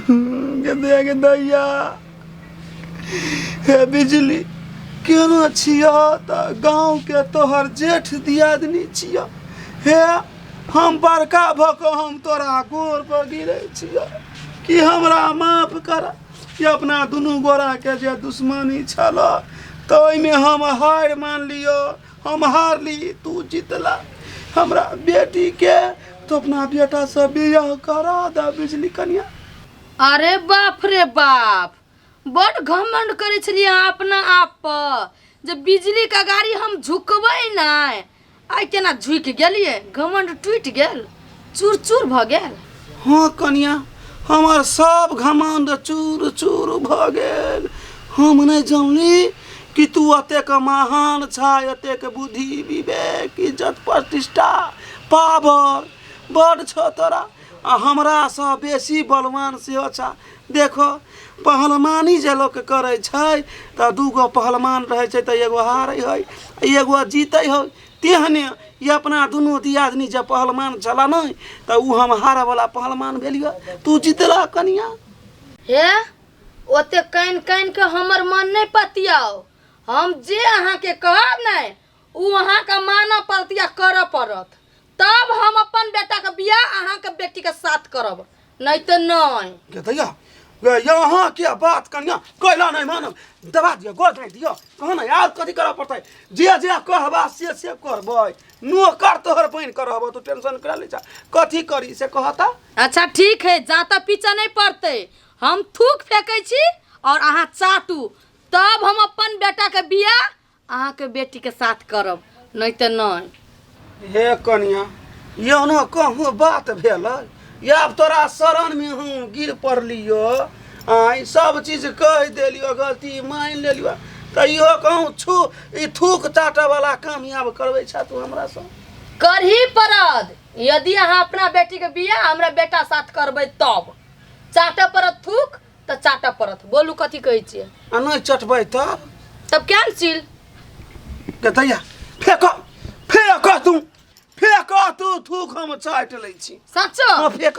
गदया के दैया हे बिजली केना छिया त गांव के तोहर जेठ दियादनी छिया हे हम बड़का भ क हम तोरा गोर पर गिरे छिया कि हमरा माफ कर कि अपना दुनू गोरा के जे दुश्मनी छल त ओइमे हम हार मान लियो हम हारली तू जीतला हमरा बेटी के तो अपना बेटा से बियाह करा दा बिजली कन्या अरे बाप रे बाप बड़ घमंड करे छलिए अहाँ अपना आप पर जे बिजली का गाड़ी हम झुकबै नहि आइ केना झुकि गेलिए घमंड टूटि गेल चूर चूर भऽ गेल हाँ कनिया हमार सब घमंड चूर चूर भ गेल हम नहीं जानली कि तू अतेक महान छा अतेक बुद्धि विवेक इज्जत प्रतिष्ठा पावर बड़ छ तोरा आ हमरा से बेसी बलवान सेहो छा देखो पहलवानी जे लोक करै छै तऽ दूगो पहलवान रहै छै तऽ एगो हारै है एगो जीतै है तेहने ई अपना दुनू दियादनी जे पहलमान छला नहि तऽ ओ हम हारऽवला पहलमान भेलिए तू जीतला कनिया हे ओते कानि कानि के हमर मन नहि पतियाओ हम जे अहाँके कहब ने ओ अहाँके मानऽ पड़त या करऽ पड़त तब हम अपन बेटाके बियाह अहाँके बेटीके साथ करब नहीं तो नहीं के दैया वे यहाँ के बात कन्या कैला नहीं मानब दबा दियो गोद नहीं दियो कहो ना यार कथी करऽ पड़तै जे जे कहबा से से करबै नौकर तोहर बनि कर रहबो तू टेंशन करा ले जा कथी करी से कहता अच्छा ठीक है जाता पीछा नहीं पड़ते हम थूक फेंकै छी और अहाँ चाटू तब हम अपन बेटा के बियाह अहाँ के बेटी के साथ करब नहीं तो नहीं हे कनिया यौनो कहूँ बात भेल आब तोरा शरण में हम गिर पड़लियो आई सब चीज कह दिलियो गलती मान लेलियो तैयो कहूँ छू ई थूक चाटे वाला काम आब करबे छा तू हमरा से करही पड़त यदि अहाँ अपना बेटी के बियाह हमरा बेटा साथ करबै तब चाटे पड़त थूक तऽ चाटऽ पड़त बोलू कथी कहै छियै आ नहि चटबै तब तब कैंसिल के दैया फेक फेक तू फेक तू थूक हम चाटि लै छी सच्चो हँ फेक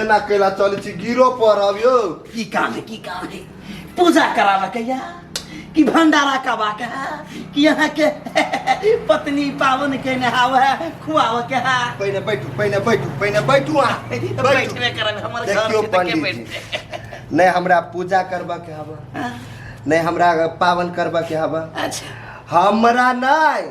एना कैला चल छी गिरो पर अबियो की काम है की काम है पूजा करावा के या कि भंडारा कबा के है कि यहाँ के पत्नी पावन के नहाव है खुआव के है पहिने बैठू पहिने बैठू पहिने बैठू आ बैठबे करब हमर घर देखियो के देखे पंडित बैठ जी नहीं हमरा पूजा करबा के हवा नहीं हमरा पावन करबा के हवा अच्छा हमरा नहीं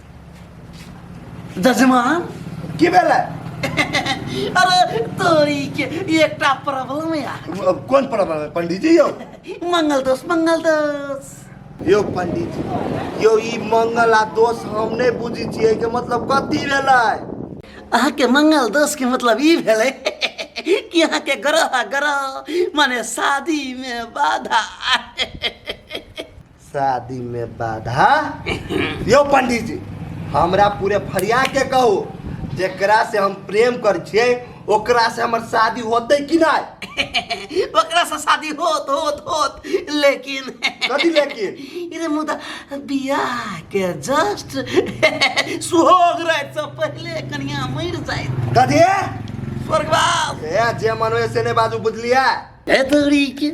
जजमा की भेलै अरे तोरी के एकटा प्रॉब्लम यार अब कोन प्रॉब्लम है पंडित जी यौ मंगल दोष मंगल दोष यौ पंडित जी यौ ई मंगल आ दोष हम नहि बुझै छियै के मतलब कथी भेलै अहाँके मंगल दोष के मतलब ई भेलै कि अहाँके ग्रह आ ग्रह माने शादी में बाधा शादी में बाधा यो पंडित जी हमरा पूरे फरिया के कहू जेकरा से हम प्रेम कर छिए ओकरा से हमर शादी होते कि नहीं ओकरा से शादी होत होत होत लेकिन कथी लेकिन इरे मुदा बियाह के जस्ट सुहाग रात से पहले कनिया मर जाए कथी स्वर्गवास ए जे मन होए से ने बाजू बुझलिया ए तोरी के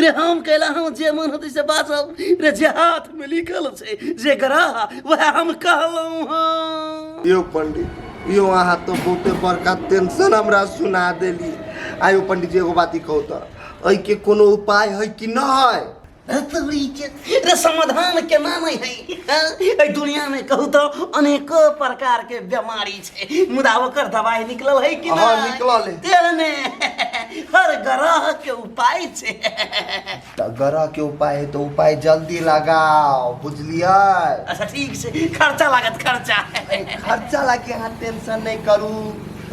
रे हम कैला हम जे मन होते से बाजब रे जे हाथ में लिखल छै जे ग्रह वह हम कहलहुँ हँ यो पंडित यो अहाँ तो बहुते बड़का टेंशन हमरा सुना देली आयो पंडित जी एगो बात कहू तो एहि के कोनो उपाय है कि न है रे समाधान केना नहि है एहि दुनियामे कहू तऽ अनेको प्रकारके बेमारी छै मुदा ओकर दवाइ निकलल है कि हाँ, नहि निकलल है। तेहने हर ग्रहके उपाय छै तऽ ग्रहके उपाय है तऽ उपाय जल्दी लगाओ बुझलियै अच्छा ठीक छै खर्चा लागत खर्चा खर्चा लागि अहाँ टेंशन नहि करू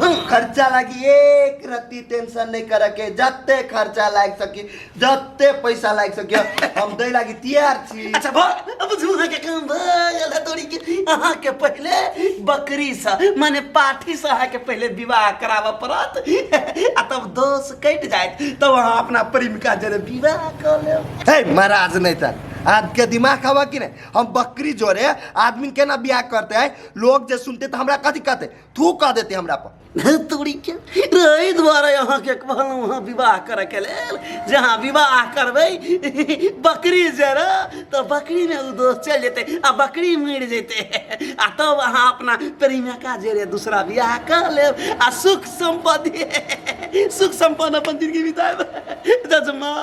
खर्चा लागि एक रत्ती टेंशन नहि करके जते खर्चा लागि सकी जते पैसा लागि सकियो हम दै लागि तैयार छी अच्छा भो अब झूहा के काम भ गेल है तोरी के अहाँ के पहले बकरी से माने पाठी से अहाँ के पहले विवाह कराबऽ पड़त आ तब दोष कट जायत तब अहाँ अपना प्रेमिका जरे विवाह क लेब हे महाराज नहीं था आज के दिमाग हवा कि नहीं हम बकरी जोरे आदमी केना बियाह करते हैं लोग जे सुनते तो हमरा कथी कहते थू कह देते हमरा पर तोरीके एहि दुआरे अहाँके कहलहुँ हँ विवाह करैके लेल जे अहाँ विवाह करबै बकरी जरा तऽ बकरीमे ओ दोस्त चलि जेतै आ बकरी मरि जेतै आ तब अहाँ अपना प्रेमिका जरे दूसरा विवाह कऽ लेब आ सुख सम्पत्ति सुख सम्पन्न अपन जिन्दगी बिताएब जजमा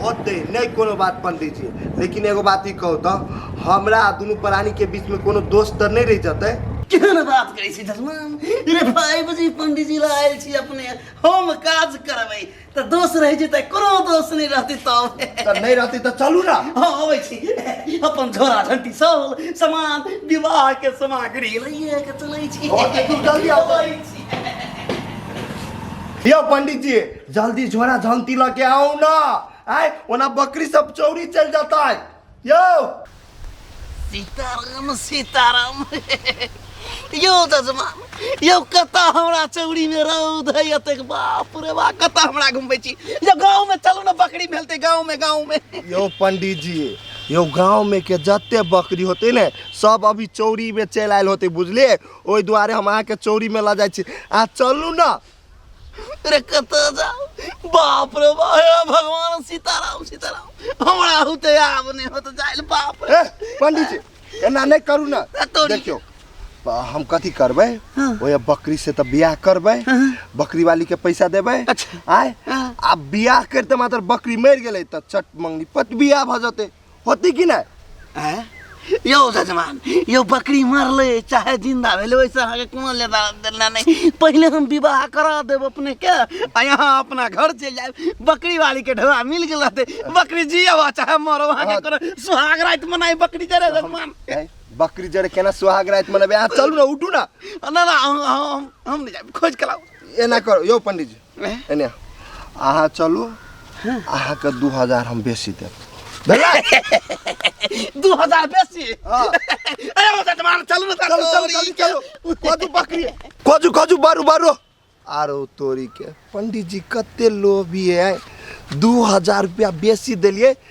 होतै नहि कोनो बात पंडीजी लेकिन एगो बात ई कहू तऽ हमरा दुनू प्राणीके बीचमे कोनो दोस्त तऽ नहि रहि जेतै केहन बात करै जजमान रे भाई बुझी पंडित जी ला आयल छी अपने हम काज करबै तऽ दोष रहि जेतै कोनो दोष नहि रहतै तब तऽ नहि रहतै तऽ चलू ने हँ अबै छी अपन झोरा झंटी सब सामान विवाह के सामग्री लइए के चलै छी ओ, तऽ तू जल्दी आउ। अबै छी। यौ पंडित जी जल्दी झोरा झंती लऽ के आउ ने आय ओना बकरी सब चौरी चल जाता है Yo! सीताराम सीताराम यौ जजमान यौ कतऽ हमरा चौरीमे रौद है एतेक बाप रे बा कतऽ हमरा घुमबै छी यौ गाँवमे चलू ने बकरी भेलतै गाँवमे गाँवमे यो पंडित जी यो गाँव में के जते बकरी होते ने सब अभी चौरी में चल आयल होते बुझलिए ओहि दुआरे हम अहाँ के चौरी में ला जाइ छी आ चलू ना अरे कत जाओ बाप रे बाप हे भगवान सीताराम सीताराम हमरा होते आब नहीं होत जाइल बाप रे ए पंडित जी एना नहीं करू ना आ तोरी। देखियो आ, हम कथी करबै हाँ। ओए बकरी से तऽ बियाह करबै बकरी वाली के पैसा देबै अच्छा। आय हाँ। आ बियाह करते मात्र बकरी मरि गेलै तऽ चट मंगनी पट बियाह भऽ जेतै होती कि नहि आँय? यौ जजमान यौ बकरी मरले चाहे जिंदा भेलै ओहिसँ अहाँके कोनो लेना देना नहि पहिले हम विवाह करा देब अपने के आ यहाँ अपना घर चलि जायब बकरी वाली के ढोआ मिल गेल रहतै बकरी जियो आ चाहे मरो अहाँके कोनो सुहाग राति मनाई बकरी जरे जजमान आँय? बकरी जड़ केना सुहाग राति मनेबै अहाँ चलू ने उठू ने ना ना हम हम- हम हम नहि जायब खोज के लाउ एना करू यौ पंडीजी एने अहाँ चलू अहाँके दू हजार हम बेसी देब भेलै? दू हजार बेसी हाँ। अरे ओ जजमान चलू ने चलू चलू चलू चलू कदू बकरी कजू कजू बारू बारू आरो तोरी के पंडित जी कते लोभी है दू हजार रुपया बेसी देलिए